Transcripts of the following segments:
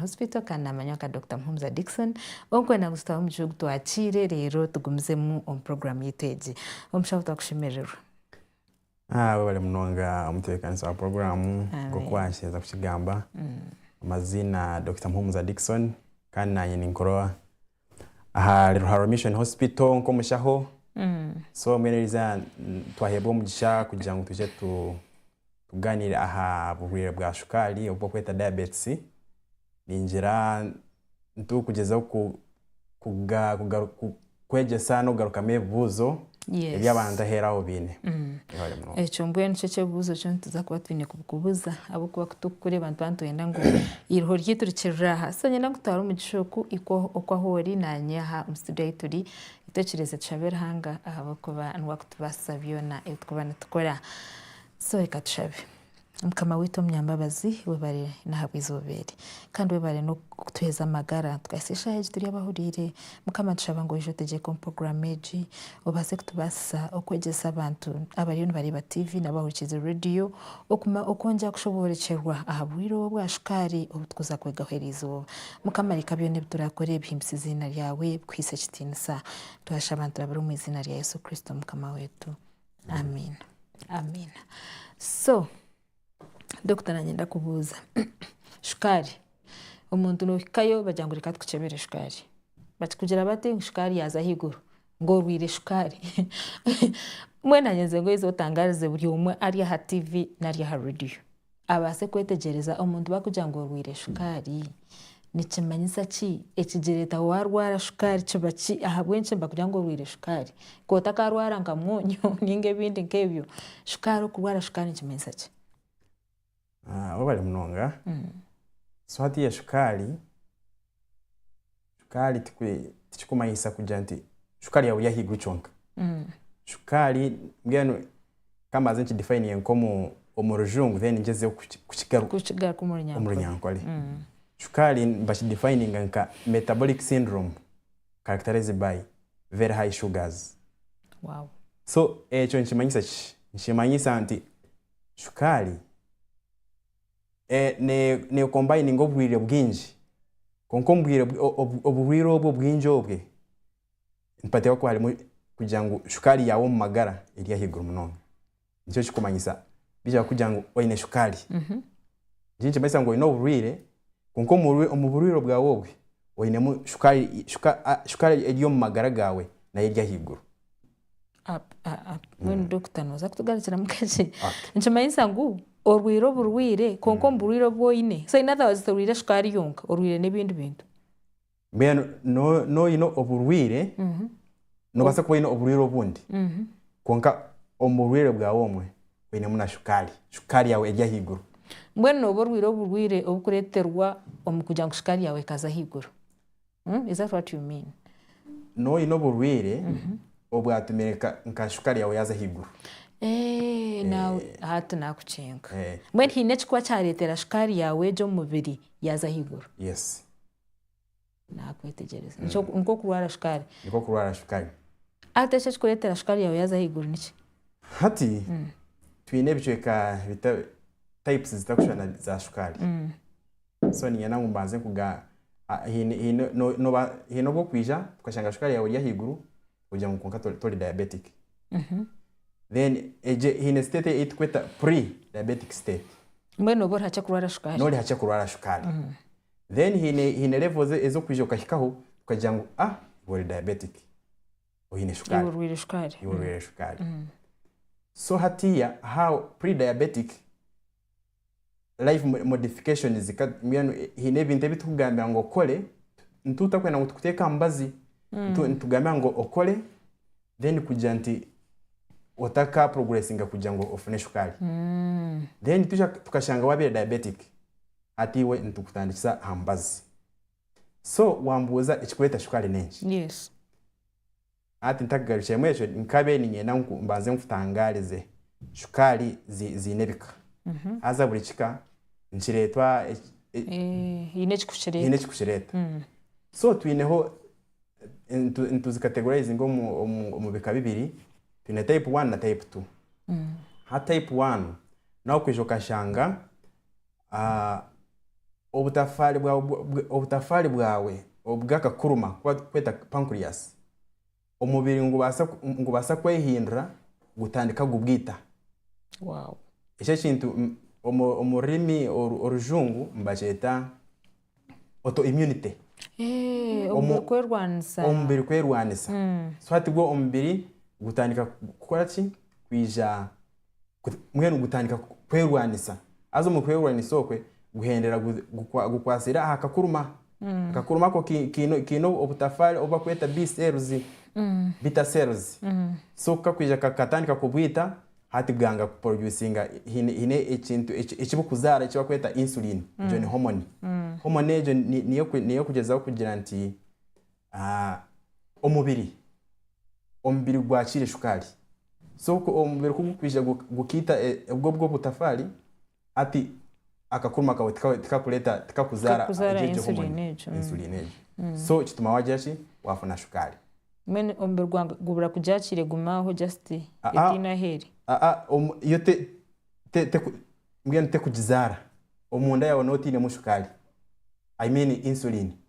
Hospital kandi naamanya nka Dokita Muhumuza Dickson. Ogwe naagwe tutabe omu gihugu twakiire reero tugumizemu omu puroguraamu yaitu egi. Omushaho twakushemirirwe. Webale munonga omutebeekanisi wa puroguraamu nk'oku waahikiriza kukigamba. Amaziina Dokita Muhumuza Dickson kandi naanye ninkurola. Aha Ruharwa Mission Hospital nk'omushaho so mbwenu eriizooba twaheebwa omugisha kugira ngu twije tugaaniire aha burwaire bwa shukaari obu barikweta diabetes, ningira ngu turikugyezaho kwegyesa n'okugarukamu ebibuuzo. ebi abantu aheeru aho baine. Mwebare munonga. Ekyo mbwenu nikyo eky'ebibuuzo ekyo nituza kuba twine kukubuuza ahabw'okuba ku turikukureeba nituba nitwenda ngu eiruho ryaitu rikirire aha. So niinyenda nkutware omu mugisha oku ikwo oku ahu ori naanye aha omu situdiyo ahu turi. Itekyereeze tushabe Ruhanga ahabw'okuba niwe arikutubaasisa byona ebi turikuba nitukora. So reka tushabe. Mukama waitu omunyambabazi webare nahabwizooba eri Kandi webare nokutuheza amagara tukahitsya eshaaha egi turi abahuriire mukama nitushaba ngu oije otegyeke omu program egi obaase kutubaasisa okwegyesa abantu abariyo nibareeba TV nari abahurikirize radio okwongyera kushoboorekyerwa ahabwiire obu obwa shukaari obutukuza kwegaho eri izooba mukama reka byoona ebiturakore bihimbise eiziina ryawe bikuhiise ekitiinisa twashaba niturabira omu eiziina rya Yesu Kristo mukama waitu. Amiina Amiina. So Dokita naanye ndakubuuza, shukaari, omuntu nohikayo bagira ngu reka tukukyebere shukaari. Bakikugira bati ngu shukaari yaaza ahaiguru, ngu orwaire shukaari. Mbwenu naanye nze ngoize otangaarize buri omwe ari aha tiivi nari aha reediyo. Abaase kwetegyereza omuntu bakugira ngu orwaire shukaari. Nikimanyisa ki? Ekigireta warwara shukaari kiba ki? Ahabw'enki nibakugira ngu orwaire shukaari? Ka otakarwara nka mwonyo ninga ebindi nk'ebyo. Shukaari okurwara shukaari nikimanyisa ki? Webale munonga. So hatiiya shukaari. Shukaari tikirikumanyisa kugira nti shukaari yaaba eri ahaiguru kyonka. Shukaari mbwenu ka mbanze nkidefayininge nk'omu rujungu then ngyezeho kukigaruka omu runyankore. Shukaari nibakidefayininga nka metabolic syndrome characterized by very high sugars. So ekyo nikimanyisa ki? Nikimanyisa nti shukaari. nekombayininga obwire bwingi kwonka omubwire oburwire obwe obwingi obwe nibateeba kuba harimu kugira ngu shukaari yaawe omu magara eri ahaiguru munonga nikyo kirikumanyisa baija kukugirira ngu oyine shukaari eki nikimanyisa ngu oyine oburwire kwonka omu burwire bwaawe obwe oyinemu shukaari eri omu magara gaawe nayo eri ahaiguru. Mbwenu dokita noza kutugarukiramu kakye nikimanyisa ngu orwire oburwire kwonka omu burwire obu oyine so in other words torwire shukaari yonka orwire n'ebindi bintu mbwenu no- noyine oburwire mhm, nobaasa kuba oyine oburwire obundi mhm. kwonka omu burwire bwawe omwe oyinemu na shukaari shukaari yaawe eri ahaiguru mbwenu nooba orwire oburwire obukureeterwa omu kugira ngu shukaari yaawe ekaza ahaiguru Hmm? Is that what you mean? Nooba oine oburwaire obwatumire nka- nka shukaari yaawe yaaza ahaiguru Eh, naawe hati nakucenga Eh. mbwenu haine ekikuba kyareetera shukaari yaawe egyo omu mubiri yaaza ahaiguru yes nakwetegyereza Nikyo- nikwo kurwara shukaari nikwo kurwara shukaari hati eki ekikureetera shukaari yaawe yaaza ahaiguru niki hati twine ebicweka bita- types zitarikushushana za shukaari So niinyenda ngu mbanze nkuga, haine haine nooba haine obu okwija tukashanga shukaari yaawe eri ahaiguru, ogira ngu kwonka tori tori diabetic. Then egyo haine state ei turikweta pre-diabetic state. Mbwenu nooba ori hakye kurwara shukaari. Noori hakye kurwara shukaari. Then haine haine level ezi ezi okwija okahikaho tukagira ngu ah iwe ori diabetic, oine shukaari. Iwe orwaire shukaari. Iwe orwaire shukaari. So hatiiya aha pre-diabetic. life modifications ka mbwenu eh, haine ebintu ebi tukugambira ngu okore ntu tutakwenda ngu tukuteeke aha mubazi Ntu- nitugambira ngu okore then kugira nti otaka progressinga kugira ngu ofune shukaari then twija tukashanga waabaire diabetic hati iwe nitukutandikisa aha mubazi so wambuuza ekikureeta shukaari n'enki yes Hati ntakugarukiremu ekyo nkabe niinyenda ngu mbanze nkutangaarize, shukaari zi, ziine ebika. Haza buri kika nikireetwa eki, e, Eh, haine hiine ekikukireeta. ekikukireeta. So twineho, eh, nitu- nituzikategorizinga omu, omu, omu bika bibiri, twine type one na type two. Ha type one, nawe okwija okashanga obutafaari bwawe obw'akakuruma aku barikweta pancreas, omubiri nigubaasa kwehindura gutandika kubwita. Eki ekintu omu rurimi orujungu nibakyeta autoimmunity. Omubiri kwerwanisa. So hati gwo omubiri gutandika kukora ki? Kwija. mbwenu gutandika kwerwanisa haza omu kwerwanisa okwe guhendera gukwasire aha kakuruma, akakuruma ako kaine obutafaari obu barikweta B-cells, bitter cells, so kakwija kakatandika kubwita hati bwanga kuproducinga haine ekintu eki burikuzaara eki barikweta insulin, egyo ni hormone, hormone egyo niyo erikugyezaho kugira nti Omubiri, omubiri gwakiire shukaari. So omubiri ku gurikwija gukaita obwo obwo butafaari, hati akakuruma kawe tika tikakureeta tikakuzaara Tikakuzaara egyo hormone, insulin egyo. insulin egyo. So kituma waagira ki? Waafuna shukaari. Mbwenu omubiri gwa- gubura kugyakiira egume aho just Ah, ah. etaine ahu eri. Aa omu- yo te- te- teku- mbwenu tekugizaara. Omunda yaawe nooba otainemu shukaari, I mean insulin.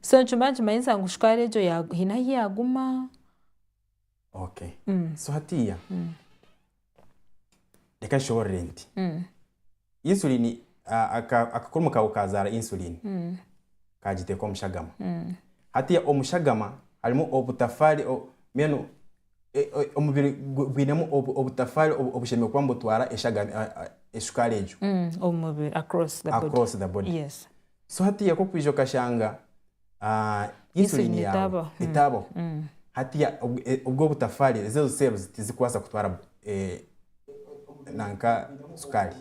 So nikimba nikimanyisa ngu shukaari egyo haine ahu yaaguma. Okay. So hatiiya, reka nshoboorore nti, insulin, akakurmu kaawe kaazaara insulin, kaagiteeka omu shagama. Hatiiya omu shagama harimu obutafaari, mbwenu omubiri gwinemu obutafaari obushemereire kuba nibutwara esukaari egyo across the body. So hatiiya ku orikwiija okashanga insulini yaawe etaabaho, hatiiya obwo butafaari, ezo cells tizirikubaasa kutwara sukaari.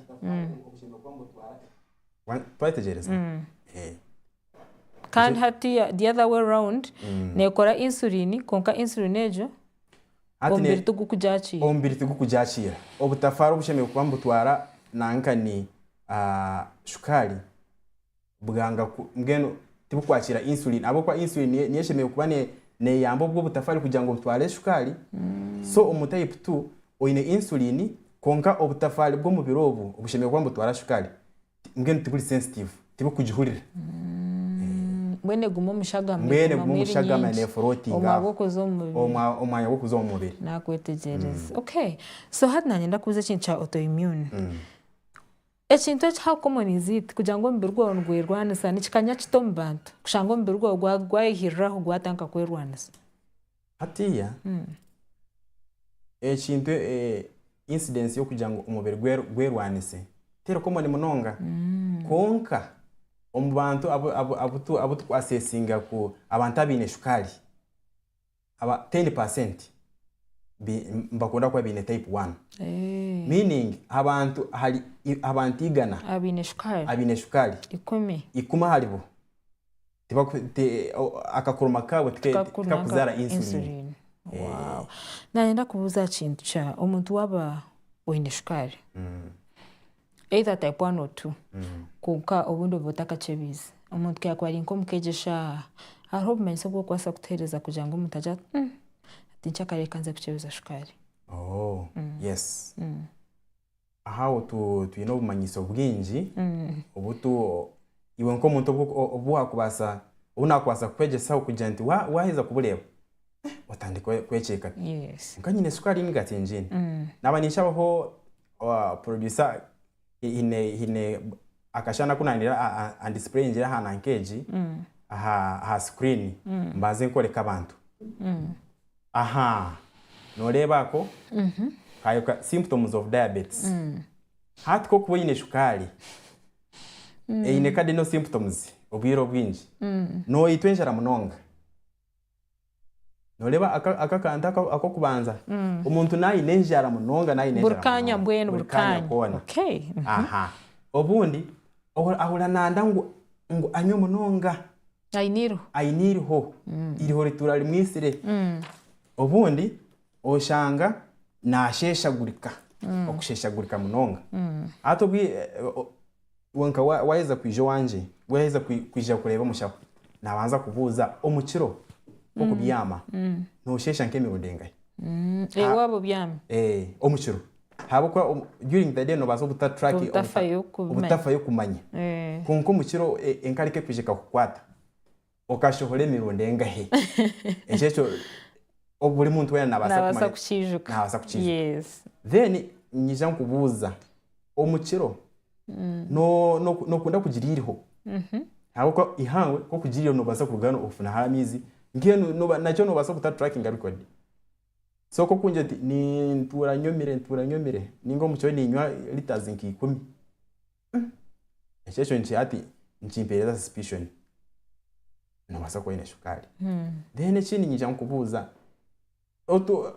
Twategyereza? Kandi hatiiya the other way round neekora insulin kwonka insulin egyo Hati ne- omubiri tigukugyakiira. omubiri tigukugyakiira obutafaara obushemereire kuba nibutwara nanga nkani ah, shukaari bwanga ku- mbwenu tibukwakiira insulin ahabw'okuba insulin niyo niyo eshemereire kuba ne- neeyamba obwo obutafaari kugira ngu butware shukaari so omu type two oine insulin kwonka obutafaari bw'omubiri obwo obushemereire kuba nibutwara shukaari mbwenu tiburi sensitive tirikugihurira mbwenu eguma omu shagama mbwenu eguma egumamu omu eri shagama nyingi neefurootinga omwanya aho. gw'okuza omu mubiri Omwa- omwanya gw'okuza omu mubiri nakwetegyereza okay so hati nanye ndakubuza ekintu kya autoimmune ekintu eki how common is it kugira ngu omubiri gwawe nigwerwanisa nikikanya kita omu bantu kushanga omubiri gwawe gwa- gwayehiriraho gwatandika kwerwanisa Hatiiya, ekintu, incidence y'okugira ngu omubiri gwe gwerwanise teri common munonga. Kwonka omu bantu abu turi ku assessinga ku abantu abaine shukaari, aba ten percent nibakunda kuba baine type one. Meaning abantu ahari abantu igana abaine shukaari, ikumi aharibo akakuruma kaabo tikakuzaara insulin. Nayenda kubuuza aha kintu kya omuntu waaba oine shukaari either type one or two kwonka obundi oba otakakyebiize omuntu ku yaakuba ari nk'omukegyesha hariho obumanyisa obu orikubaasa kutuheereza kugira ngu omuntu agire ati hati nkyakare reka nze kukyebiza shukaari? Ahaho twine obumanyiso bwingi obu iwe nk'omuntu obu waakubaasa, obu naakubaasa kukwegyesaho kugira nti waaheza kubureeba otandika kwekyeka kwonka nyine sukaari emigaati ngiine. Naaba ninshabaho producer haine akashushani aku naayendera andisipureyingire aha nanka egi, aha sikuriini mbanze nkoreke abantu. Aha, nooreeba ako kaayo ka symptoms of diabetes. Hati ku okuba oine shukaari eine cardinal symptoms obwire obwingi, nooyitwa enjara munonga. Nooreeba aka aka akantu aka ak'okubanza? Omuntu naayine enjara munonga, naayine Buri enjara kaanya munonga, mbwenu, buri buri kaanya kaanya. koona. Okay. Aha. Obundi ohura ahura naanda ngu ngu anywe munonga. Aine eiriho. aine eiriho eiriho rituura rimwitsire obundi oshanga nasheshagurika okusheshagurika munonga hati obwi o- wenka wa- waheza kwija owangye waheza kwi- kwija kureeba omushaho nabanza kubuuza omukiro nk'okubyama noshesha nk'emirundi engahi Ewaabo byami. Eh, omukiro Ahabw'okuba during the day noobaasa kuta track obutafayo kumanya. Kwonka omu kiro enkarika ekwija ekakukwata. Okashohora emirundi engahe? Ekyo ekyo buri muntu weena naabaasa kukiijuka. Naabaasa kukiijuka. Then ninyija nkubuuza, omu kiro nookunda kugira eiriho? Ahabw'okuba eihangwe ku orikugira eiriho noobaasa kuruga hanu ofune hare amaizi. Mbwenu nakyo noobaasa kuta trackinga record. So ku okungira oti nintuura nyomire ntuura nyomire ninga omu kiro ninywa litres nka ikumi ekyo nikyo hati nikimpereza suspicion nobaasa kuba oine shukaari. Then ekindi niija nkubuuza otu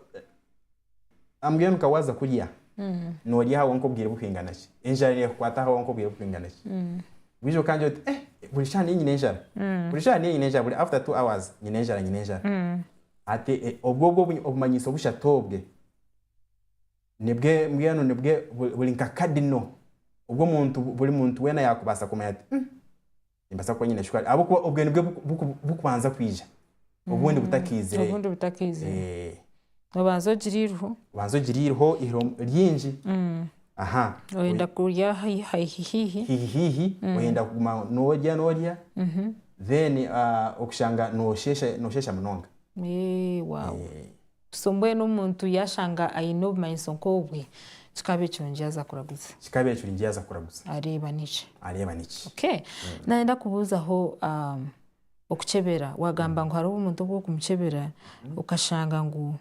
am getting nka waaza kurya norya ahawe nk'obwire buhingana ki? Enjara neekukwata ahawe nk'obwire buhingana ki? Bwiija okangira oti buri shaaha niinyine enjara buri shaaha niinyine enjara buri after two hours nyine enjara nyine enjara. Ati, Obwo obwo obumanyiso bushatu obwe nibwe mbwenu nibwe buri nka kadino obu omuntu buri muntu weena yaakubaasa kumanya ati, Umm, nimbaasa kuba nyine shukaari. Ahabw'okuba obwe nibwe buku bukubanza kwija, obundi butakiizire. Obundi butakiizire. Eeh. Obanza ogire eiriho. Obanza ogire eiriho, eiriho ryingi. aha oyenda kurya haihi haihi haihi haihi oyenda kuguma norya norya then ah, okushanga noshesha noshesha munonga Eh, wow. Eh, so mbwenu omuntu yashanga aine obumanyiso nk'obwe kikaba ekirungi yaza kuraguza kikaba ekirungi yaza kuraguza areeba niki areeba niki okay nayenda kubuuzaho um, okukyebera wagamba ngu hariho omuntu obu okumukyebera okashanga ngu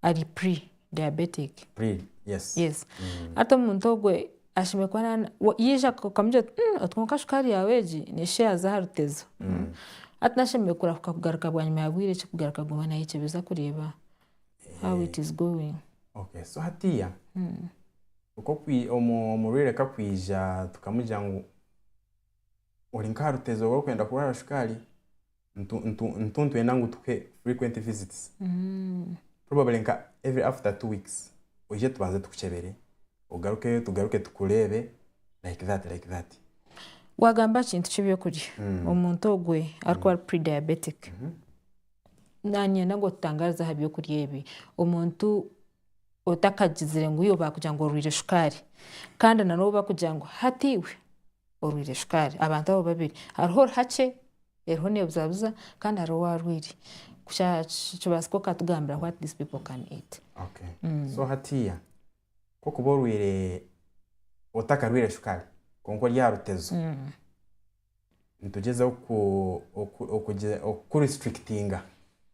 ari pre diabetic. Pre yes. Yes. Mm. Hati omuntu ogwe ashemwe kuba nana yija okamugira oti mm, oti konka shukaari yawe egi nesha yaza aha rutezo. Mm. mm. Hati nashemwe kurahuka kugaruka bwanyima ya bwire ki kugaruka kuguma nayecebeza kureeba how it is going. Okay. So hatiya mm. okokwi omu omurwire kakwija tukamugira ngu oli nkaha rutezo rwokwenda kurwara shukaari nitu- nitu- nitwenda ngu tukuhe frequent visits probably nka every after two weeks oije tubanze tukukyebere ogarukeyo tugaruke tukureebe like that like that wagamba aha kintu ky'ebyokurya omuntu ogwe arikuba ari pre-diabetic nanyenda ngu otutangarize aha byokurya ebi omuntu otakagizire ngu iyo baakugira ngu orwaire shukaari kandi nanobu bakugira ngu hati iwe orwaire shukaari. Abantu abo babiri hariho orihakye eriho nebuzabuza kandi hariho owarwaire kukyakibaasika okatugambira what these people can eat. Okay. So hatiiya kokuba orwaire otakarwaire shukaari kwonka ori aha rutezo nitugyezaho oku oku oku okukurestrictinga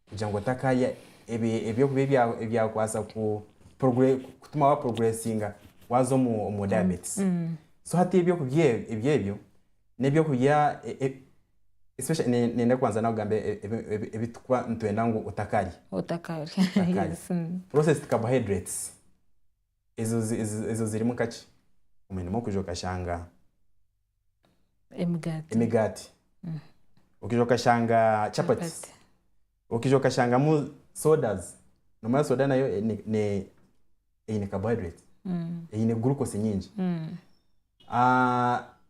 kugira ngu otakarya ebyokurya ebyakubaasa kutuma wa puroguresinga waaza omu dayabeetisi. So hati ebyokurya ebyo, n'ebyokurya niinyenda kubanza naakugamba ebitukuba nitwenda ngu otakarya. Purosesidi kabohayidureti. Ezo ezo zirimu nka ki? Omwe nimwo kwija okashanga Emigaati. emigaati, okija okashanga chapati, Chapati. okija okashangamu sodas, nomanya soda nayo eine carbohydrates, eine glucose nyingi.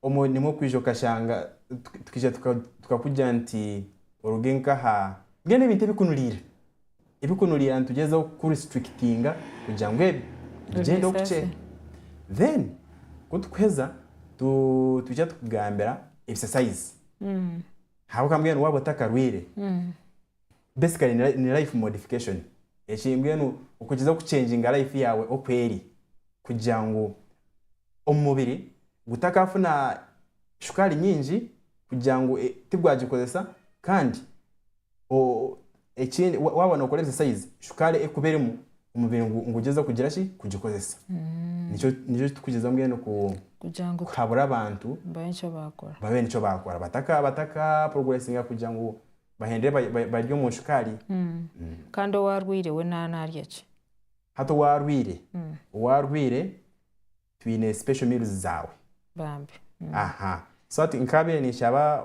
Omwe nimwo okwija okashanga tukaija tukakugira nti oruge nkaha mbwenu ebintu ebikunuriira ebikunuriira nitugyezaho kuku restrictinga kugira ngu ebyo bigyende okukye then kutukuheza twija tukugambira exercise ahabw'okugira ngu mbwenu waaba otakarwire basically ni ni life modification eki mbwenu okugizaho ku changinga life yaawe oku eri kugira ngu omumubiri gutakafuna shukaari nyingi kugira ngu tigwagikozesa kandi o- ekindi wa- waaba nokora exercise shukaari ekuba erimu omubiri ngu ngugyezeho kugira ki kugikozesa nikyo nikyo ekitukugizaho mbwenu ku kugira ngu kuhabura abantu babe nikyo baakora babe nikyo baakora bataka bataka progressinga kugira ngu bahendere barye omu shukaari. Kandi owaarwaire we naarya ki? Hati owaarwaire, owaarwaire twine special meals zaawe. Bambi. Aha. So hati nkaabaire ninshaba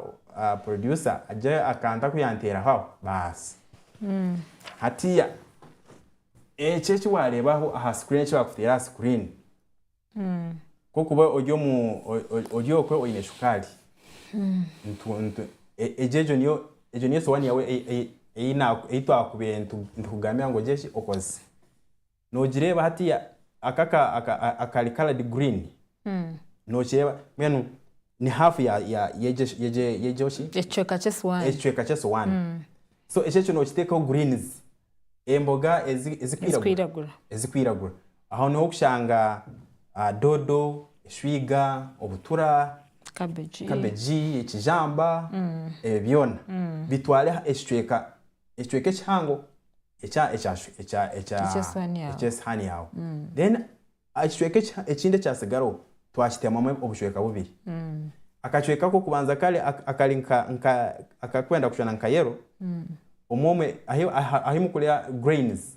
producer agire akantu aku yaanteeraho aho baasi. Hatiiya, ekyo eki waareeba aho aha screen, eki baakuteera aha screen. Kwokuba ori omu ori okwe oyine shukaari egyo egyo niyo egyo niyo sowaani yaawe ei- ei- ei naaku ei twaakubaire nitu nitukugambira ngu ogire ki okozese. Noogireeba hatiiya ako aka aka akari coloured green nookireeba mbwenu ni half ya ya yegyo shi yegyo yegyo shi Ekicweka ky'esowaani. ekicweka ky'esowaani. So ekyo ekyo nookiteekaho greens emboga ezi ezikwiragura Ezikwiragura. ezikwiragura. Aho niho okushanga doodo, eshwiga, obutura, kabegi, ekijamba, ebyo byona bitware ekicweka ekihango eky'esihaani yaawe. Then ekicweka ekindi ekyatsigaraho twakiteemamu obucweka bubiri. Akacweka ak'okubanza kare akarikwenda kushwana nka yero, ahu murikurya grains.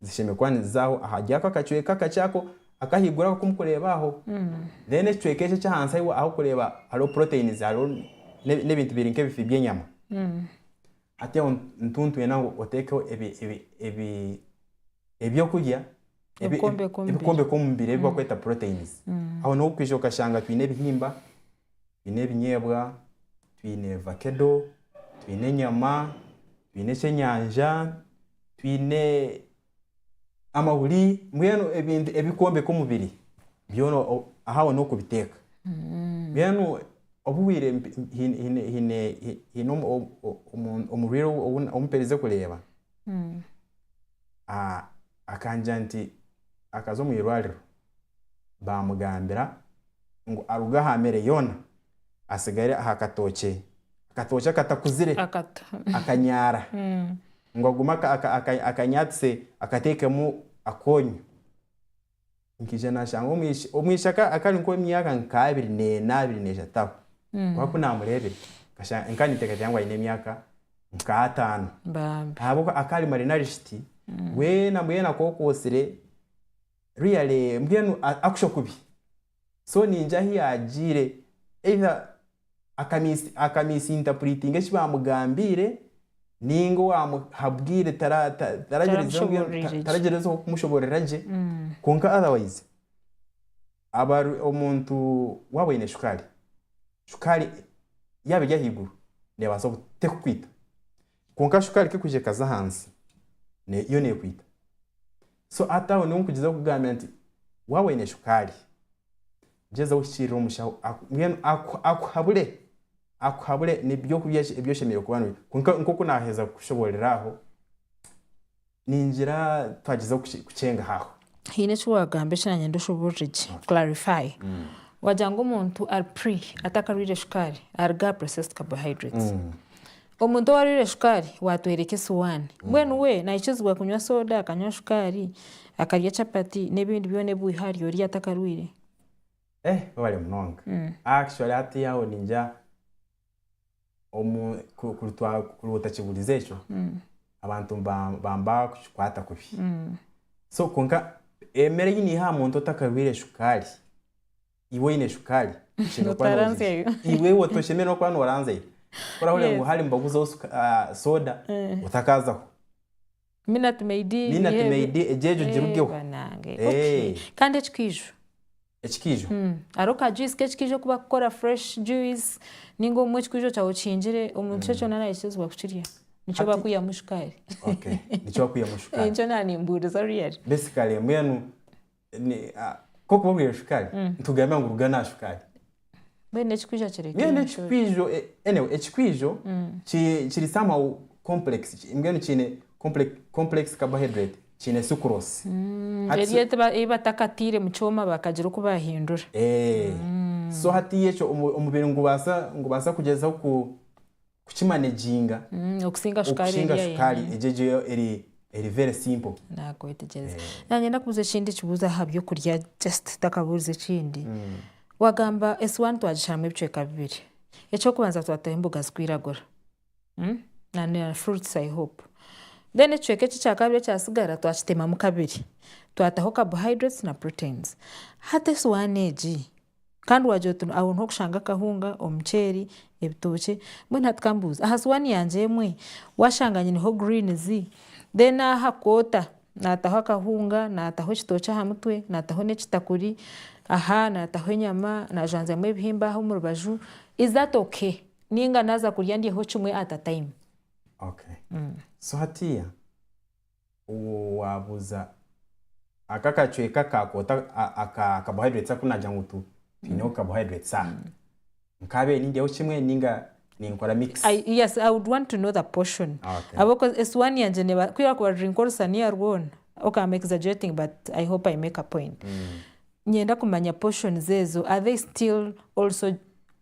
zishemeriire kuba nizizaaho ahari ako akacweka akakye ako ak'ahaiguru ako aku murikureeba aho. Then ekicweka eki eky'ahansi ahu orikureeba hariho proteins, hariho n'ebintu biri nk'ebifi by'enyama. Hati aho nitu nitwenda ngu oteekeho ebyokurya ebirikwombeka omubiri ebi barikweta proteins. Aho n'obu orikuza okashanga twine ebihimba, twine ebinyeebwa, twine vakedo, twine enyama, twine ekyenyanja, twine amahuri mbwenu ebintu ebikwombeka omubiri byona ahu aho n'oku obiteeka. Mbwenu obuhwire haine omurwaire ou mperize kureeba akangira nti akaza omu irwariro. Baamugambira ngu aruge aha mere yoona atsigare aha katookye akatookye akatakuzire, akanyaara, ngu agume akanyaatise akateekemu akoonyo. Nkaija naashanga omwishiki akari nk'ow'emyaka nk'abiri n'ena, abiri n'eshatu aho. Kwonka ku naamureebire, nkaba ninteekateeka ngu aine emyaka nk'ataano. Ahabw'okuba akaba ari marinarishiti, mbwenu mbwenu akokootsire. Really mbwenu akusho kubi so ningira ahu yagiire either aka misinterpretinga eki bamugambiire ninga owamuha bwire taragyerezeho kumushoborera gye kwonka otherwise omuntu waaba oine shukaari, shukaari yaaba eri ahaiguru neebaasa tekukwita Kwonka shukaari kekuhija ekaza ahansi ne yo nekwita. So hati aho niho nkugyezaho kukugambira nti waaba oine shukaari, gyezaho ohikiirire omushaho aku mbwenu aku akuhabure akuhabure n'ebyokurya ki ebi oshemereire kuba noine. Kwonka nk'oku naaheza kukushoboorora aho. Ningira twagizeho kukyengahaho. Haine eki wagamba eki nanye ndoshoborore gye, clarify. Wagira ngu omuntu ari pre atakarwire shukaari aruga aha processed carbohydrates. Omuntu owarwire shukaari watworeka esiwaani. Mbwenu we nayikizibwa kunywa soda, akanywa shukaari, akarya chapati n'ebindi byona ebi wiha arye ori atakarwire? Ehh webale munonga. Actually hati aho ningira. Kuri otakigurize ekyo, abantu nibaba bakikwata kubi. Kwonka emere ei naiha aha muntu otakarwiire shukaari, iwe oine shukaari, iwe otoshemereire n'okuba noranzya yo. Ku orahurira ngu hare nibaguzaho soda, otakaza ho. Minati meidi egyo erugeho. Kandi ekikaiju. ekikaijo. Hariho ka juice k'ekikaijo aku bakukora fresh juice ninga obumwe ekikwijo kyawe okihingire omu kyo kyona nayekizibwa kukirya nikyo bakwihamu shukaari. Okay nikyo bakwihamu shukaari. Nikyo naba nimbuuriza really. Basically mbwenu ni kokuba obwire shukaari nitugambiira ngu ruga naha shukaari. Mbwenu ekikwijo kireke mbwenu enshuri. ekikwijo eh, anyway ekikwijo ki- kiri somehow complex ki- mbwenu kiine complex, complex carbohydrate kiine sucrose Hati Eri so- eti ba- ei batakataire mu kyoma bakagira oku baahindura. Eh, so hatiiya ekyo omu- omubiri ngubaasa ngubaasa kugyezaho ku kukimanaginga okusinga shukaari egyo eri very simple. Nakwetegyereza. Nanyenda kubuuza ekindi kibuuzo aha by'okurya just ntakabuurize ekindi. Wagamba esiwaani twagishaaramu ebicweka bibiri. Eky'okubanza twataho emboga zirikwiragura na fruits i hope. Then ekicweka eki ekyakabiri ekyatsigara twakitemamu kabiri, twataho carbohydrates na proteins. Hati esiwaani egi Kandi waagira oti, Aho niho okushanga akahunga, omuceeri, ebitookye. Mbwenu hati kambuuze, aha sowaani yangye emwe waashanga nyineho greens, then aha koota naataho akahunga, naataho ekitookye aha mutwe, naataho n'ekitakuri, aha naataho enyama, naajanjamu ebihimba aha omu rubaju, is that okay? Nainga naaza kurya ndyeho kimwe at a time. Okay. So hatiiya owaabuuza aka akacweka ka kwota aka carbohydrates aku naagira ngu tu twine obu carbohydrates aha nkaabiire nindyaho kimwe ninga ninkora mix. I, yes, I would want to know the portion. Okay. Habwokuba esuwaani yangye neeba, ku yakuba eri nk'orusaniya rwona, okay, I'm exaggerating but I hope I make a point. Nyenda kumanya portions ezo, are they still also.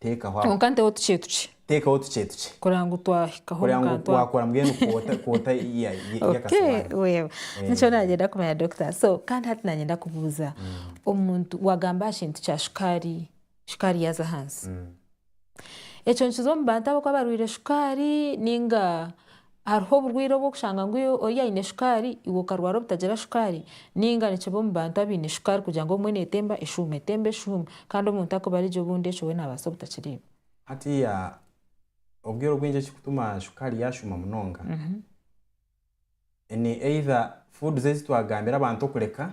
Teekaho ama- Kwonka nteho tukye tukye teekaho tukye tukye kureba ngu twahikaho kureba omu ngu kantu ako. wakora mbwenu kwota kwota ya- ya- Okay, y'akasuwaani wewe Eh. nikyo nagenda kumanya doctor so kandi hati nagenda kubuuza omuntu wagamba aha kintu kya shukaari shukaari yaaza ahansi ekyo nikiza omu bantu abakuba barwaire shukaari ninga Hariho oburwaire obu orikushanga ngu ori aine shukaari iwe okarwara obutagira shukaari? Nainga nikibi omu bantu abaine shukaari kugira ngu obumwe neetemba eshuuma etemba eshuuma kandi omuntu akubare gye obundi ekyo we naabaasa obutakireeba. Hatiiya obwire obwingi ekirikutuma shukaari yaashuuma munonga ni either foods ezi twagambire abantu okureka,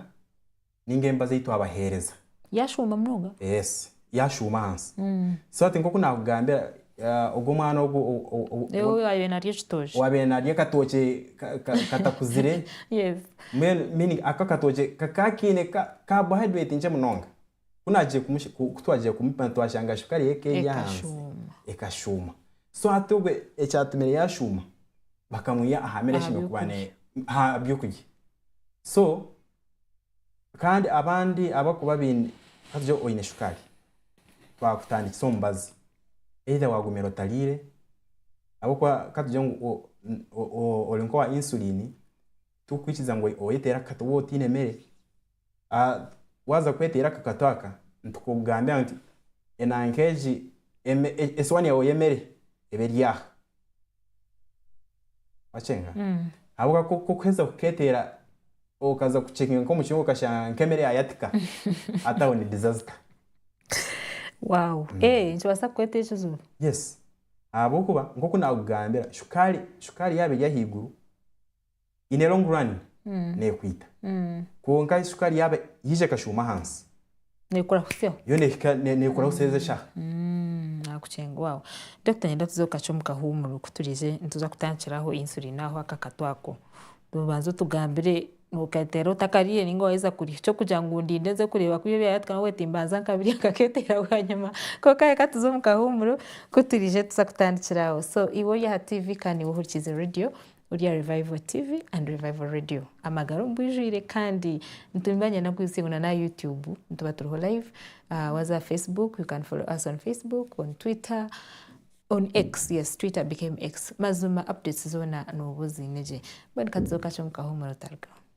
ninga emba zeitu abahereza. Yashuuma munonga? Yes yashuuma ahansi so that nkoku nakugambira ogu omwana ogu owabaire narya ekitookye owabaire narya akatookye katakuzire meaning ako akatookye kakaba kaine carbohydrate nkye munonga kutwagiire kumupa nitwashanga shukaari ye eka eri ahansi ekashuuma so hati ogwe ekyatumire yashuuma bakamuha aha meere eshemeriire kuba ne ahabyokurya so Kandi abandi abu orikuba oine, ka tugire oine shukaari, baakutandikisa omubazi, either waagumire otariire, ahabw'okuba ka tugire ngu o- o- o- ori nk'owa insulini, tikukwikiriza ngu oyeteere akakatu waaba otaine mere. Waaza kweteera aka katu aka, nitukugambira ngu enanka egi, eme- esowaani yaawe y'emere eba eri aha. Wacenga? Ahabw'okuba ku- ku- kuheza kuketeera okaza kucekinga nk'omucungwa okashanga nk'emere yayatika ati aho ni disaster. Wow. Eh, nikibaasa kukureetera ekizibu. Yes. Ahabw'okuba nk'oku naakugambira shukaari shukaari yaaba eri ahaiguru, in a long run nekwita kwonka sukari yaba yaija ekashuuma ahansi nekoraho seho yo nehika ne- nekoraho seho ez'eshaha nakucenga wawe doctor nyenda tuze kukakye omu kahuumuro ku turize nituza kutandikiraho insulin aho aka katu ako obanze otugambire nokateera otakariire ninga waheza kurya ekyokugira ngu ndinde nze kureeba ku byo byayatuka nabwo hati mbanza nkabirya nkaketeera bwanyima kwonka reka tuze omu kahuumuro ku turize tuza kutandikira aho so iwe ori aha tiivi kandi niwe ohurikiize radiyo Orya Revival TV and Revival Radio amagara omu bwijwire kandi nituba nyine na kuhitsya ngu na n'aha YouTube nituba turiho live. Waza aha Facebook you can follow us on Facebook, on Twitter, on X, yes Twitter became X. Mazima updates zoona nooba oziine gye. Mbwenu ka tuze omu kacu omu kahumure otarugaho.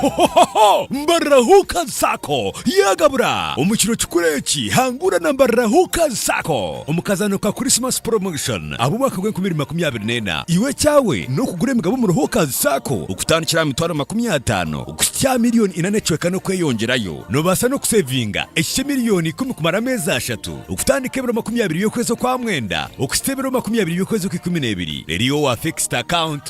Hohohoho! Mbarira Hookers Sacco yagabura! Omu kiro kikuru eki, hangura na Mbarira Hookers Sacco omu kazaano ka Christmas Promotion ab'omwaka gw'enkumi ibiri makumi abiri n'ena. Iwe ekyawe n'okugura emigabo omuri Hookers Sacco okutandikira aha mitwaro makumi ataano kuhitsya aha milioni ina n'ecweka n'okweyongyerayo. Noobaasa n'okuseevinga ekikye milioni ikumi kumara ameezi ashatu, okutandika ebiro makumi abiri by'okwezi okwa mwenda okuhitsya ebiro makumi abiri by'okwezi okw'ikumi n'ebiri. Reero iwe wa fixed account.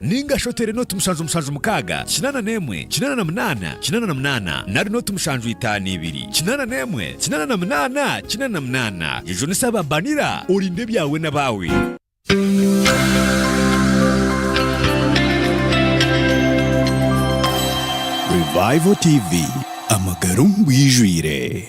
Ninga shi oteere nooti mushanju mushanju mukaaga, kinaana n'emwe, kinaana na munaana, kinaana na munaana, nari nooti mushanju itaano ibiri, kinaana n'emwe, kinaana na munaana, kinaana na munaana. Yejunisa aba Banira, orinde ebyawe n'abaawe. Revival TV, amagara omu bwijwire.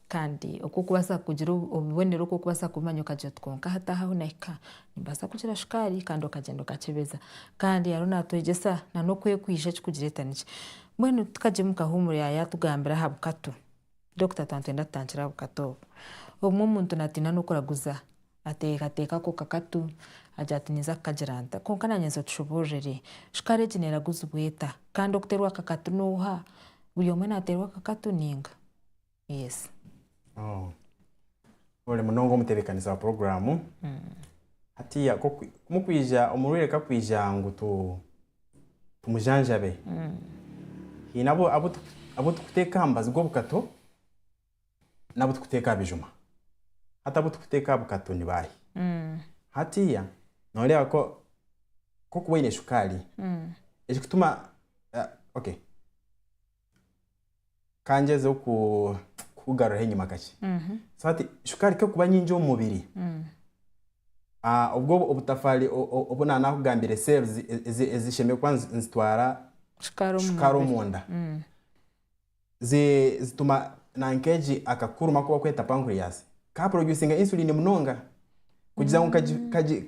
Kandi oku okubaasa kugira obubonero oku okubaasa kubimanya okagira oti kwonka hati aha ahu nahika nimbaasa kugira shukaari kandi okagyenda okakyebeza. Kandi ariyo naatwegyesa nana okwekwija ekirikugireeta nikyo. Mbwenu tukagye omu kahuumuro yaatugambira aha bukatu, dokita twaba nitwenda tutangire aha bukatu obu. Obumwe omuntu naatiina n'okuraguza, ateekateeka ako kakatu agira ati ninza kukagira nta? Kwonka naanye nza otushubuurire, shukaari egi neeraguzibwa eta? Kandi okuteerwa akakatu n'oha? Buri omwe naateerwa akakatu nainga? Yes. Oh. Ori munonga omutebekanisa wa programu hatiya ko kwi- mukwija omurwaire kakwija ngu tu tumujanjabe haine abu- abu tu- abu tukuteeka aha mubazi gw'obukato n'abu tukuteeka aha bijuma hati abu tukuteeka aha bukato ni baahi hatiya nooreeba ko ku orikuba oine shukaari ekikutuma eh, okay kangyezeho kukugaruraho enyima kakye so hati shukaari kekuba nyingi omu mubiri ah, obwo obutafaari obu naba nakugambire cells ezishemereire kuba nizitwara shukaari omunda mm. zituma nankeegi akakuruma aku bakweta pancreas kaproducinga insulin munonga kugira ngu mm.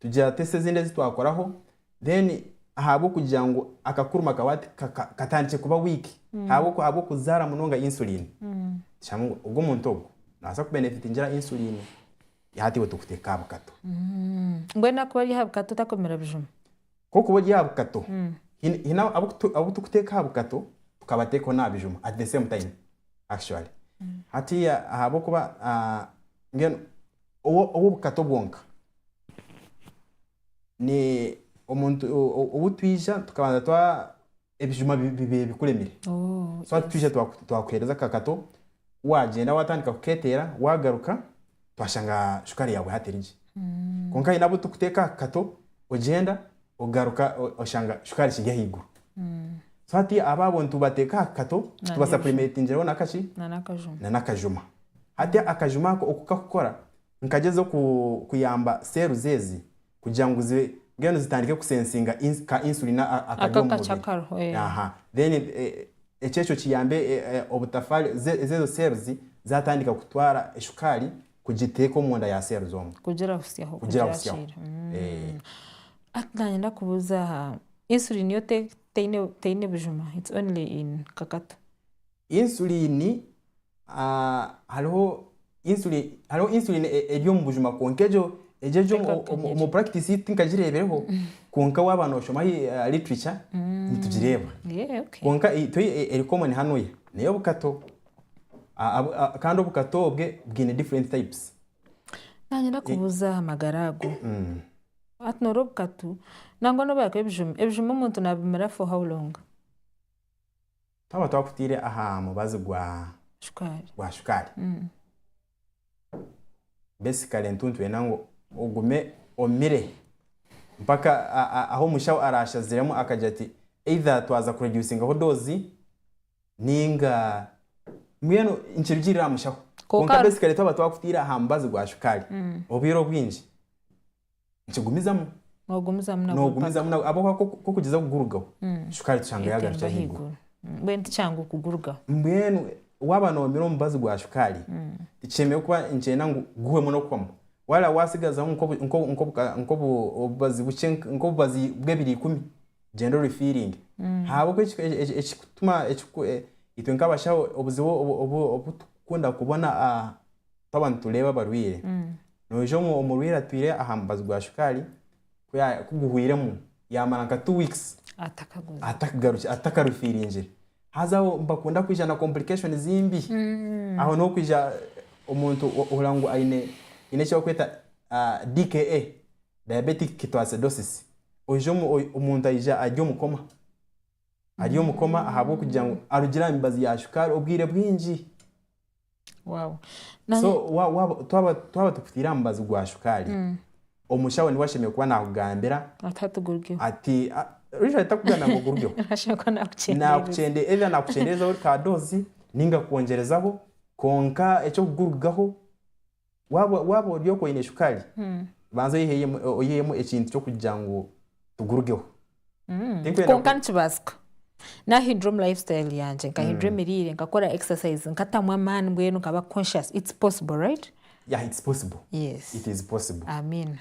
Tugira tests ezindi ezi twakoraho then ahabw'okugira ngu akakuruma kawe ati ka- ka- katandikire kuba weak ahabw'oku- ahabw'okuzaara munonga insulin, tushange ngu ogwo muntu ogwo naabaasa kubenefitingira insulin, hati iwe tukuteeka aha bukato. Mbwenu akuba ari aha bukato takomera bijuma? Kw'okuba ori aha bukato, haine haine abu tu- abu tukuteeka aha bukato tukabateekaho n'aha bijuma at the same time actually. Hatiiya ahabw'okuba ah, mbwenu. ow'obukato bwonka. Obu twija tukabanza twa, ebijuma bibaire bikuremire, so hati twija twakuheereza akakato, waagyenda waatandika kukeeteera, waagaruka twashanga shukaari yaawe hati eri gye. Kwonka haine abu turikuteeka aha kakato, ogyenda. ogaruka oshanga shukaari kiri ahaiguru so hati abo abo nitubateeka aha kato tubasapulimetingiraho nakaki nanakajuma hati akajuma ako oku kakukora nikagyeza kuyamba cells ezi kugira ngu zibe mbwenu zitandike kusensinga ka insulin akari omu mubiri aha then eh, ekyekyo kiyambe eh, eh, obutafaari ezezo cells zatandika kutwara eshukaari kugiteeka omu nda ya cells omu. Kugira butsyaho, kugira butsyaho. Hati nanyenda kubuuza aha insulin yo teine bujuma, it's only in kakatu? Insulin hariho insulin hariho insulin eri omu bujuma kwonka egyo egyo eri omu practice ei tinkagireebireho kwonka waaba noshoma literature nitugireeba. Kwonka itwe eri common hanu nayo obukato. Kandi obukato obwe bwine different types. Nanyenda kubuuza aha magara ago. Mm. Hati norwo obukatu nangwa nobu yaakuba ebijuma, ebijuma omuntu nabimira for how long? Twaba twakutaire aha mubazi gwa Shukaari. gwa shukaari Mm. basically nitu nitwenda ngu ogume omire mpaka a- a- ahu omushaho araashaziremu akagira ati either twaza kureducingaho doozi Ninga mbwenu nikirugiirira aha mushaho. Kwonka Kwonka hariho- besikare twaba twakutaire aha mubazi gwa shukaari Mm. obwire obwingi nikigumizamu Noogumizamu nabwo noogumizamu mpaka. na- ahabw'okuba ku- ku orikugyeza kugurugaho Mm. shukaari tushanga yaagarukira Ekahika ahaiguru. ahaiguru. Mm. Mbwenu ti kyangu kugurugaho. Mbwenu waaba noomire omubazi gwa shukaari Mm. tikishemereire kuba nikyenda ngu guhwemu n'okuhwamu. Waaba waatsigazaho nk'obu- nk'obu- nk'obu- nk'obu- obubazi bukye nk- nk'obubazi bw'ebiro ikumi, gender refeeling ahabw'oku eki- eki- eki- ekikutuma ekiku- e- itwe nk'abashaho obuzibu obu- obu- obutukunda kubona ah, twaba nitureeba abarwaire noija omu- omurwaire atwire aha mubazi gwa shukaari ku ya- ku guhwiremu yaamara nka two weeks atakaguza atakagarukire atakarufiiringire haza aho nibakunda kwija na complications mbi aho niho okwija omuntu ohurira ngu aine aine eki barikweta ah, DKA diabetic ketoacidosis, oija omu- oi- omuntu aija ari omu koma. Ari omu koma ahabw'okugira ngu arugire aha mibazi ya shukaari obwire bwingi. Wow. Na- So wa- waba- twaba twaba tukutaire aha mubazi gwa shukaari, omushaho niwe ashemereire kuba naakugambira Ati hatugurukeho. ati "Ah, usually takugambira ngu ogurugeho. Ashemwe kuba nakukyendera. naakukyende either naakukyenderezaho ka doozi ninga kukwongyerezaho kwonka eky'okugurugaho Waaba waaba ori okwo oine shukaari, banza oyiheemu oyiheemu ekintu ky'okugira ngu tugurugeho. Tinkwenda kwonka ku- nikibaasika naahindura omu life style yangye nkahindura emiriire nkakora exercise nkatamu amaani mbwenu nkaba conscious it's possible right Yeah, it's possible. Yes. It is possible. amiina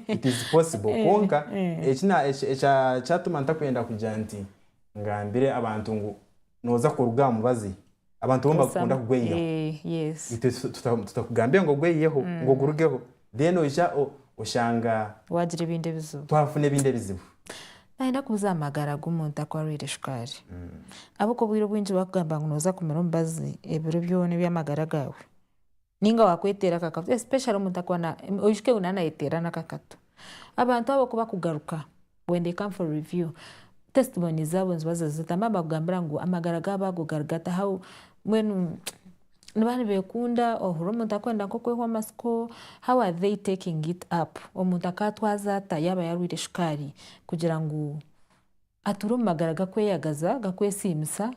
It is possible. Kwonka ekina- eki- ekya- kyatuma ntakwenda kugira nti ngambire abantu ngu noza kuruga aha mubazi abantu bo nibakunda kugweyiyaho eh, itwe tutakugambire ngu ogweyiyeho mm. ngu ogurugeho then oija oshanga wagira ebindi ebizibu twafuna ebindi ebizibu nayenda kubuza amagara g'omuntu aku arwaire shukaari mm. ahabw'oku obwire obwingi bakugamba ngu noza kumira omubazi ebiro byona eby'amagara gaawe ninga wakweteera akakatu especially omuntu akuba na oishikiye ngu nayeteera n'akakatu. Abantu abo kubakugaruka when they come for review testimony zaabo nizibaza zita mbwenu nibakugambira ngu amagara gaabo ago gari gata how mbwenu niba nibekunda ohurira omuntu akwenda nk'okwehwa amatsiko how are they taking it up omuntu akatwaza ata yaaba yarwaire shukaari kugira ngu Atuura omu magara gakweyagaza, gakwesiimisa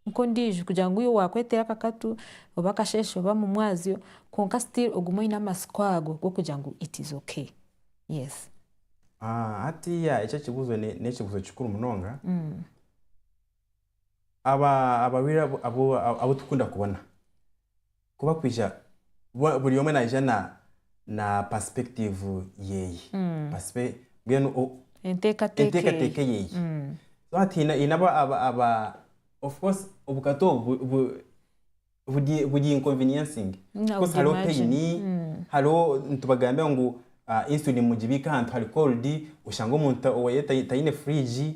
nk'ondiijo kugira ngu iwe waakweteera akakatu oba akasheeshe oba mumwazyo kwonka still ogume oine amatsiko ago g'okugira ngu it is okay. Yes. Hatiiya eki ekibuuzo n'ekibuuzo kikuru munonga. Abarwaire abu abu tukunda kubona. Ku bakwija, bo buri omwe naija na na perspective yeye. Perspe mbwenu o- Enteekateeka enteekateeka eye. yeye. Mm. So hati haine haine aba aba aba of course obukata obu bu- bu- buri buri inconveniencing. I Of course would hariho imagine. pain, Mm. hariho nitubagambira ngu ah, insulin mugibiike ahantu hari cold, oshange omuntu oweye tai taine fridge.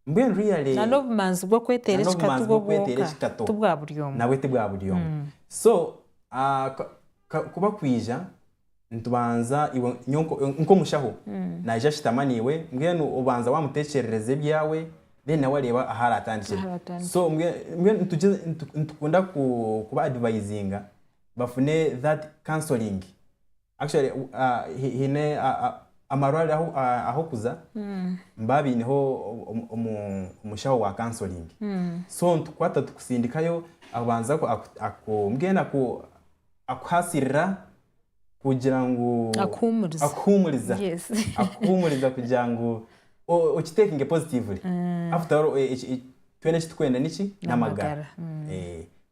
Mbwenu really Na n'obumanzi bw'okweteera na ekikatu n'obumanzi bwo bw'okweteera bwonka, ekikato ti bwa buri omwe. nabwe ti bwa buri omwe. So ah, ka- ka- ku bakwija nitubanza iwe nyowe nko- nk'omushaho naija ashutama naiwe mbwenu obanza waamuteekyerereza ebyawe then nawe areeba ahu araatandikire. Ahu araatandikire. So mbwe- mbwenu nitugye- nitu- nitukunda ku- kuba advisinga bafune that counselling. actually haine amarwariro ahu arikuza nibaba baineho omushaho wa counselling so nitukukwata tukusindikayo akubanza mbwenu akuhasirira kugira ngu akuhumuriza akuhumuriza kugira ngu oki takinge positively after all twena eki turikwenda niki n'amagara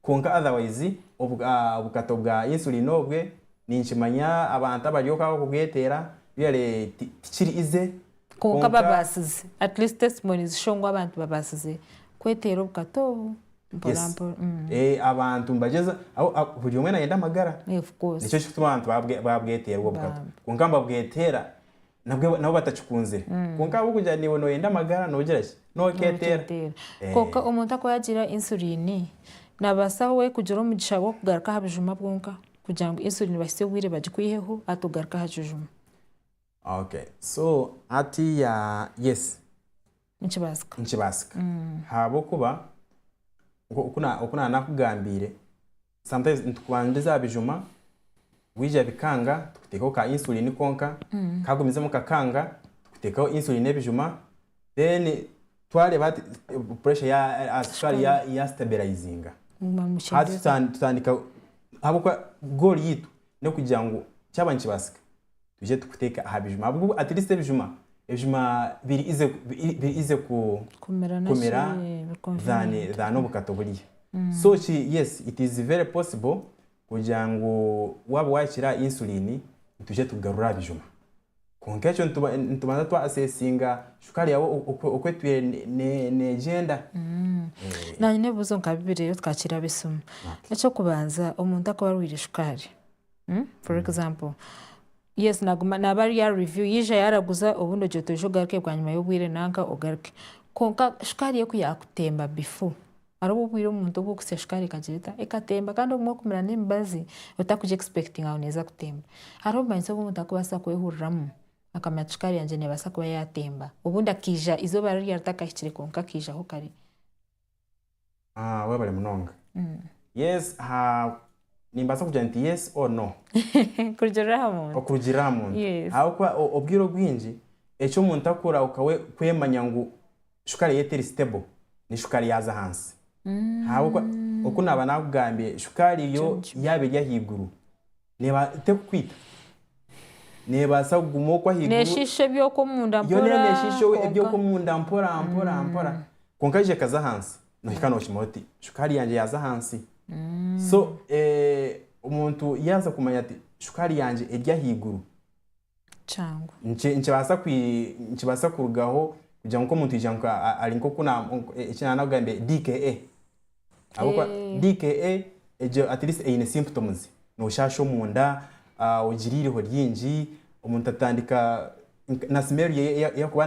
kwonka otherwise obukato bwa insulin obwe Ninkimanya abantu abari oku abakugweteera really tikiri easy Kwonka babaasize, at least testimonies show ngu abantu babaasize kweteera obukato obu mpora mpora. Abantu nibagyeza, buri omwe nayenda amagara nikyo kikutuma abantu babweteerwa obukato kwonka nibabweteera nabwo nabo batakikunzire kwonka ahabw'okugira ngu naiwe nooyenda amagara noogira ki nooketeera Nooketeera. Eh, Kwonka omuntu aku yaagira insulin, naabaasa we kugira omugisha gw'okugaruka aha bijuma bwonka kugira ngu insulin bahitsye obwire bagikwiheho hati ogaruke aha kijuma. okay so hatiiya yes Nikibaasika. Nikibaasika. Ahabw'okuba nk'oku na, oku na naakugambiire, sometimes nitukubandiza aha bijuma, bwija bikanga, tukuteekaho ka insulin konka, kagumizemu kakanga, tukuteekaho insulin n'ebijuma, then twareeba hati pressure ya, ah, sukaari ya, ya stabilizinga. Muguma Hati mukyendeza. tutan- tutandika, ahabw'okuba goal yaitu n'okugira ngu kyaba nikibaasika, twije tukuteke aha bijuma ahabw'okuba at least ebijuma ebijuma biri easy biri easy ku kumira naki kumira biri than convenient. than obukata oburya so ki yes it is very possible kugira ngu waaba waakira aha insulin nitwija tukugarura aha bijuma kwonka ekyo nituba nitubanza twa assessinga shukaari yaawe oku oku oku etwire ne ne neegyenda Naanye nyine ebibuuzo nka bibiri reero tukakira ab'eisimu. Eky'okubanza omuntu akuba arwaire shukaari For example, yes naguma naba ari ya review yija yaraguza obundi ogira otoija ogaruke bwanyima y'obwire nanka ogaruke. Konka shukaari eku yakutemba before hariho obwire omuntu obu okusya shukaari ekagira eta ekatemba kandi obumwe okumira n'emibazi otakugi expectinga ngu neza kutemba. Hariho obumanyitso obu omuntu arikubaasa kwehuriramu akamanya ati shukaari yangye nebaasa kuba yatemba obundi akija izoba riri ryaatakahikire konka akaijaho kare. Ah, webale munonga. Yes, ha nimbaasa kugira nti yes or no. kurugiirira aha muntu Okurugiirira aha muntu. Yes. Ahabw'okuba o- obwire obwingi eki omuntu akora okawe kwemanya ngu shukaari eye teri stable ni shukaari yaaza ahansi. Ahabw'okuba oku naaba naakugambire shukaari yo Ekyo nikyo. yaaba eri ahaiguru, Neeba, tekukwita. Neebaasa kuguma okwo ahaiguru. Neeshiisha eby'okwo omunda mpora. Yoona neeshiisha eby'okwo omunda mpora mpora mpora. Kwonka yaija ekaza ahansi, noohika nookimanya oti, shukaari yangye yaaza ahansi. So omuntu yaaza kumanya ati, shukaari yangye eri ahaiguru. kyangu. Nikibaasa kurugaho kugira ngu omuntu ari nk'oku DKA ahabw'okuba DKA eine symptoms, nooshaasha omunda, ogira eiriho ryingi, omuntu atandika na smell ye ei arikuba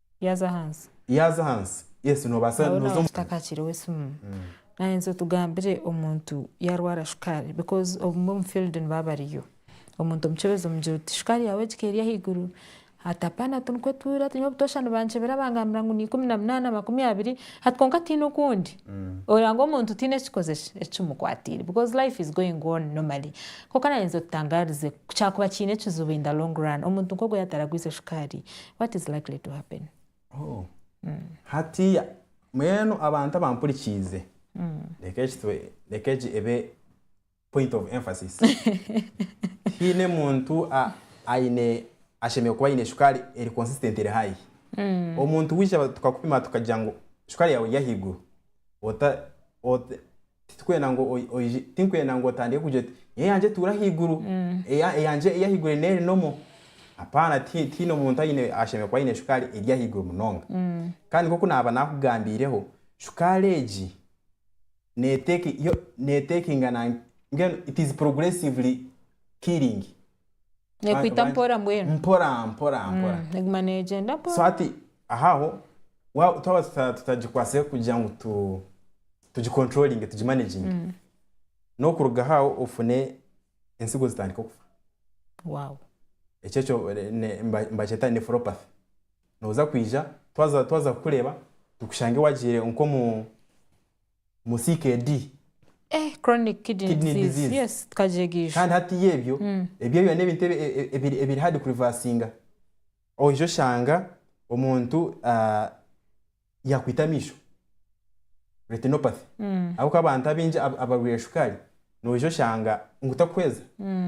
Yaaza ahansi. Yaaza ahansi. Yes, noobaasa Nabwo nooza omu. naawegyeta ka kiro esimu. Naahindukira otugambire omuntu yaarwara shukaari because obumwe omu field nibaba bariyo. Omuntu omukyebeza omugira oti, shukaari yaawe ehika eri ahaiguru. Ati hapana tu nikwetuura tu nyine obutoosha nibankyebera bangambira ngu ni ikumi na munaana, makumi abiri, hati kwonka tihaine okundi. Oreba ngu omuntu tihaine ekikoze ki? Ekimukwatiire because life is going on normally. Kwonka naayenzire otutangaarize ku kyakuba kiine ekizibu in the long run omuntu nk'ogwo yaataragwize shukaari What is likely to happen? Oh. Hatiya, mbwenu abantu abampurikiize, reka eki tube, reka egi ebe point of emphasis. Tihaine muntu a- aine, ashemereire kuba aine shukaari eri consistent eri high. Omuntu waija tukakupima tukagira ngu shukaari yaawe eri ahaiguru, ota, ota, titwenda ngu oi- oije tinkwenda ngu otandike kugira oti niyo eyangye etuura ahaiguru eya- eyangye ey'ahaiguru eri neeri nomo apaana tihi- tihaine omuntu aine ashemereire kuba aine shukaari eri ahaiguru munonga kandi nk'oku naaba naakugambiireho shukaari egi neeteki yo neetekinga na mbwenu it is progressively killing Nekwita mpora mbwenu. Mpora mpora mpora. Mm, neguma negyenda mpora. So hati ahaho wa- twaba tuta- tutagikwatsire kugira ngu tu- tugicontrollinge tugimanaginge Mm. n'okuruga ahaho ofune entsigo zitandike okufa Wow. ekyo ekyo eh, ne- mba- mbakyeta nephropathy noza kwija twaza twaza kukureeba tukushange wagiire nk'omu mu CKD. Eh, chronic kidney, Kidney disease. disease. Yes, tukagyega ijo. kandi hatiya ebyo ebyo byona n'ebintu ebi- e- ebiri ebiri hard kurivasinga oije oshanga omuntu ah, yakwita amaisho retinopathy ahabw'okuba abantu abaingi ab- abarwaire shukaari noija oshanga ngu takuhweza